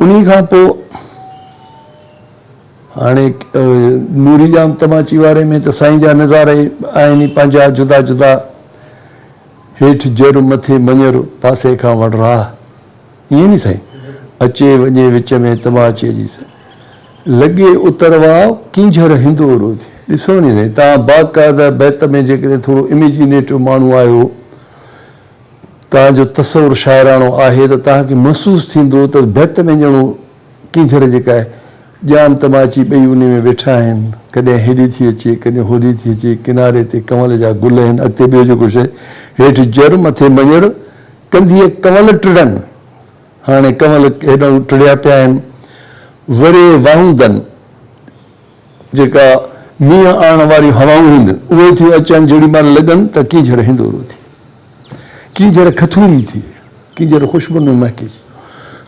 انهي کان پوء هاڻي نوري ڄام تماچي واري ۾ ته سائين جا نظارا ئي آهن ئي پنهنجا جدا جدا، هيٺ جر، مٿي مڃر، پاسي کان وڙراهه. ائين ني سائين، اچي وڃي وچ ۾ تماچي جي سائين، لڳي اتر واء ڪينجهر هندو رو ٿي. ڏسو ني سائين، توهان باقاعده بيت ۾ جيڪڏهن ٿورو اميجينيٽو ماڻهو آهيو، توهان جو تصور شاعراڻو آهي ته توهان کي محسوس ٿيندو ته بيت ۾ ڄڻو ڪينجهر جيڪا آهي، ڄام تماچي ٻئي انهي ۾ ويٺا آهن، ڪڏهن هيڏي ٿي اچي، ڪڏهن هوڏي ٿي اچي، ڪناري تي ڪنول جا گل آهن، اڳتي ٻيو جيڪو شيء، هيٺ جر، مٿي مڃر، ڪنڌيء ڪنول ٽڙن، هاڻي ڪنول هيڏانهن ٽڙيا پيا آهن. وري واهوندن، جيڪا مينهن آڻڻ واريون هوائون هن، اهي ٿيون اچن، جهڙي مهل لڳن ته ڪينجهر هندورو ٿئي، ڪينجهر کٿوري ٿئي، ڪينجهر خوشبوئن ۾ مهڪي.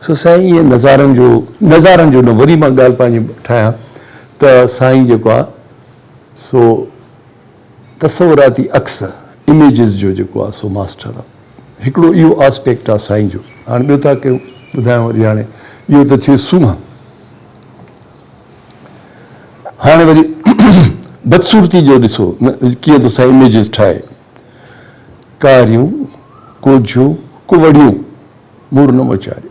سو سائين ايئن نظارن جو، نظارن جو نه وري مان ڳالهه پنهنجي ٺاهيان ته سائين جيڪو آهي سو، تصوراتي عڪس، Images، جو جيڪو آ سو ماسٽر آ. هڪڙو اهو آسپيڪٽ آ سائين جو. هاڻي ٻيو ٿا ڪيون ٻڌايان وري هاڻي اهو ته ٿيو سونهن. هاڻي وري بدصورتي جو ڏسو نه ڪيئن ٿو سائين Images ٺاهي. ڪاريون، ڪوجهيون، ڪوڙهيون، مور نه مچاريو.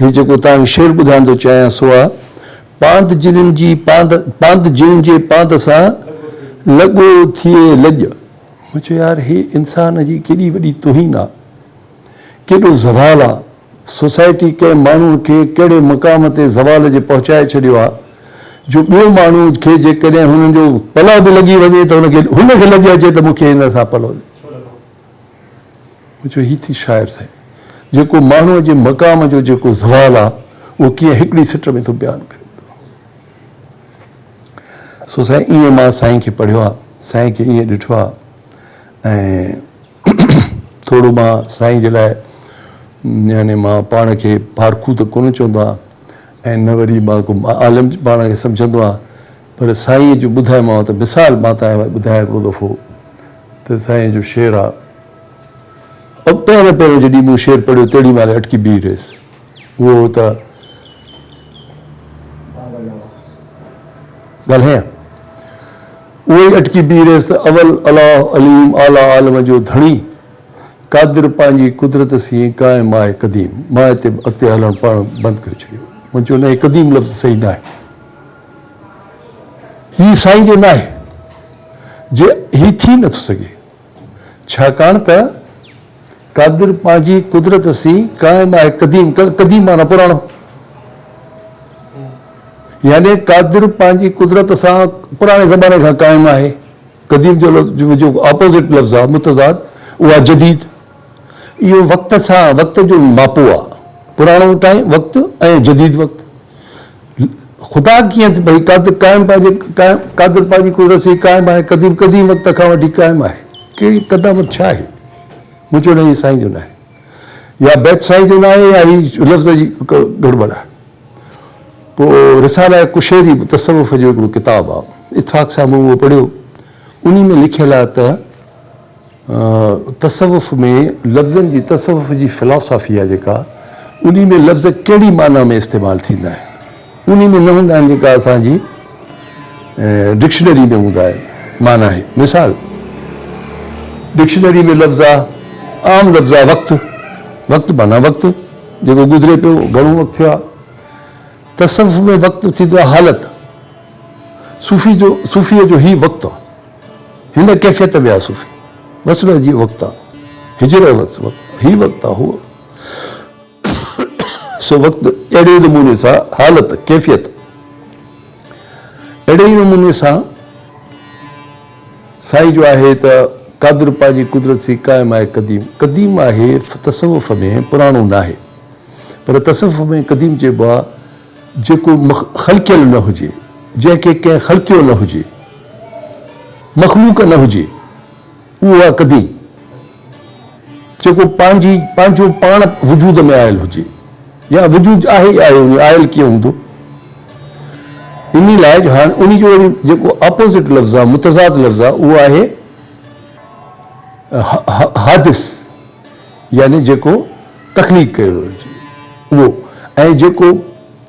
هي جيڪو توهان کي شعر ٻڌائڻ ٿو چاهيان سو آ، پاند جنين جي پاند، پاند جنين جي پاند سان لڳو ٿئي لڄ. مون چيو يار هي انسان جي ڪيڏي وڏي توهين آ، ڪيڏو زوال آ، سوسائٽي ڪنهن ماڻهوء کي ڪهڙي مقام تي زوال جي پهچائي ڇڏيو آ جو ٻيو ماڻهو کي جيڪڏهن هن جو پلئه به لڳي وڃي ته هن کي هن کي لڄ اچي ته مون کي هن سان پلئه مون چيو هي ٿي شاعر سائين! جيڪو ماڻهوء جي مقام جو جيڪو زوال آ، اهو ڪيئن هڪڙي سٽ ۾ ٿو بيان ڪري ڏنو. سو سائين ائين مان سائين کي پڙهيو آ، سائين کي ائين ڏٺو آ ۽ ٿورو مان سائين جي لاء يعني مان پاڻ کي پارکو ته ڪونه چوندو آ ۽ نه وري مان ڪو عالم پاڻ کي سمجهندو آ. پر سائينء جو ٻڌايومانو ته مثال مان تنهن لاء ٻڌايان هڪڙو دفعو ته سائينء جو شعر آ ۽ پهريان پهريان جڏهن مون شعر پڙهيو تهڙي مهل اٽڪي بيهي رهيس اهو هو ته ڳالهايان اهو ئي اٽڪي بيهي رهيس ته اول الاهه عليم اعليٰ عالم جو ڌڻي قادر پنهنجي قدرت سين قائم آهي قديم ماء تي به اڳتي هلڻ پڙهڻ بند ڪري ڇڏيو مون چيو نه هي قديم لفظ صحيح ناهي. هي سائين جو ناهي جي هي ٿي نٿو سگهي ڇاڪاڻ ته قادر پنهنجي قدرت سين قائم آهي قديم قديم معنيٰ پراڻو يعني قادر پنهنجي قدرت سان پراڻي زماني کان قائم آهي قديم جو لفظ جو اپوزٽ لفظ آهي متضاد اها جديد اهو وقت سان وقت جو ماپو آ. پراڻو ٽائيم وقت ۽ جديد وقت. خدا ڪيئن ته ڀئي قادر قائم پنهنجي قادر پنهنجي قدرت سي قائم آهي قديم قديم وقت کان وٺي قائم آهي. ڪهڙي قدامت ڇا آهي؟ مون چيو نه هي سائين جو ناهي. يا بيت سائين جو ناهي يا هي لفظ جي گڙٻڙ آهي. پوء رساله قشيري به تصوف جو هڪڙو ڪتاب آ. اتفاق سان مون اهو پڙهيو. انهي ۾ لکيل آ ته. تصوف ۾ لفظن جي تصوف جي فلاسافي آهي جيڪا انهي ۾ لفظ ڪهڙي معنيٰ ۾ استعمال ٿيندا آهن انهي ۾ نه هوندا آهن جيڪا اسان جي ڊڪشنري ۾ هوندا آهن معنيٰ هي مثال ڊڪشنري ۾ لفظ آهي عام لفظ آهي وقت وقت معنيٰ وقت جيڪو گذري پيو گهڻو وقت ٿيو آهي تصوف ۾ وقت ٿيندو آهي حالت صوفي جو صوفي جو هي وقت هن ڪيفيت ۾ آ صوفي. وس نه جي وقت آ هجر ۽ وس وقت هي وقت آ هو سو وقت اهڙي نموني سان حالت ڪيفيت اهڙي ئي نموني سان سائين جو آهي ته قادر پنهنجي قدرت سي قائم آهي قديم قديم آهي تصوف ۾ پراڻو ناهي پر تصوف ۾ قديم چئبو آ جيڪو خلقيل نه هجي، جنهن کي ڪنهن خلقيو نه هجي، مخلوق نه هجي، اهو آهي قديم، جيڪو پنهنجي پنهنجو پاڻ وجود ۾ آيل هجي يا وجود آهي ئي آهي هجي، آيل ڪيئن هوندو؟ انهي لاء جو هاڻي انهي جو وري جيڪو اپوزٽ لفظ آهي، متضاد لفظ آهي، اهو آهي حادث يعني جيڪو تخليق ڪيو ويو هجي اهو ۽ جيڪو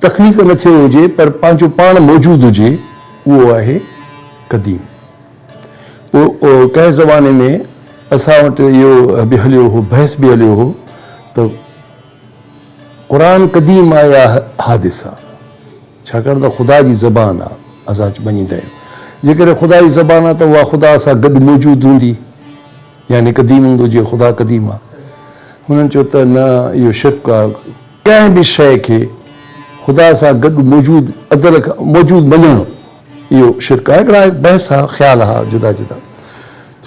تخليق نه ٿيو هجي پر پنهنجو پاڻ موجود هجي اهو آهي قديم. پوء ڪنهن زماني ۾ اسان وٽ اهو به هليو هو بحث به هليو هو ته قرآن قديم آهي يا حادث آهي ڇاڪاڻ ته خدا جي زبان آهي اسان مڃيندا آهيون جيڪڏهن خدا جي زبان آهي ته اها خدا سان گڏ موجود هوندي. يعني قديم هوندو جيئن خدا قديم آ. هنن چيو ته نه اهو شرڪ آ ڪنهن به شيء کي خدا سان گڏ موجود ازل کان موجود مڃڻ اهو شرڪ آ هڪڙا بحث ها خيال ها جدا جدا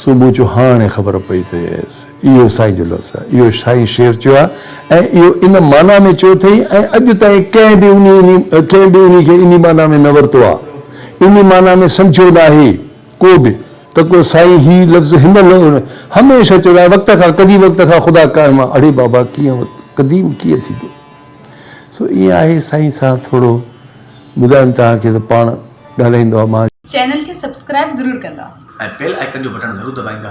سو مون چيو هاڻي خبر پئي ته يس اهو سائين جو لفظ آ اهو سائين شير چيو آ ۽ اهو ان معنيٰ ۾ چيو اٿئي ۽ اڄ تائين ڪنهن به انهي انهي ڪنهن به انهي کي انهي معنيٰ ۾ نه ورتو آ انهي معنيٰ ۾ سمجهيو ناهي. ڪوبه، ته ڪو سائين هي لفظ هن نه هن هميشه چيو آهي وقت کان قديم وقت کان خدا قائم آ اڙي بابا ڪيئن وقت قديم ڪيئن ٿيندو سو ايئن آهي سائين سان ٿورو ٻڌايم توهان کي ته پاڻ ڳالهائيندو آ مان چينل کي سبسڪرائب ضرور ڪندا. ۽ بيل آئيڪن جو بٽڻ ضرور دٻائيندا.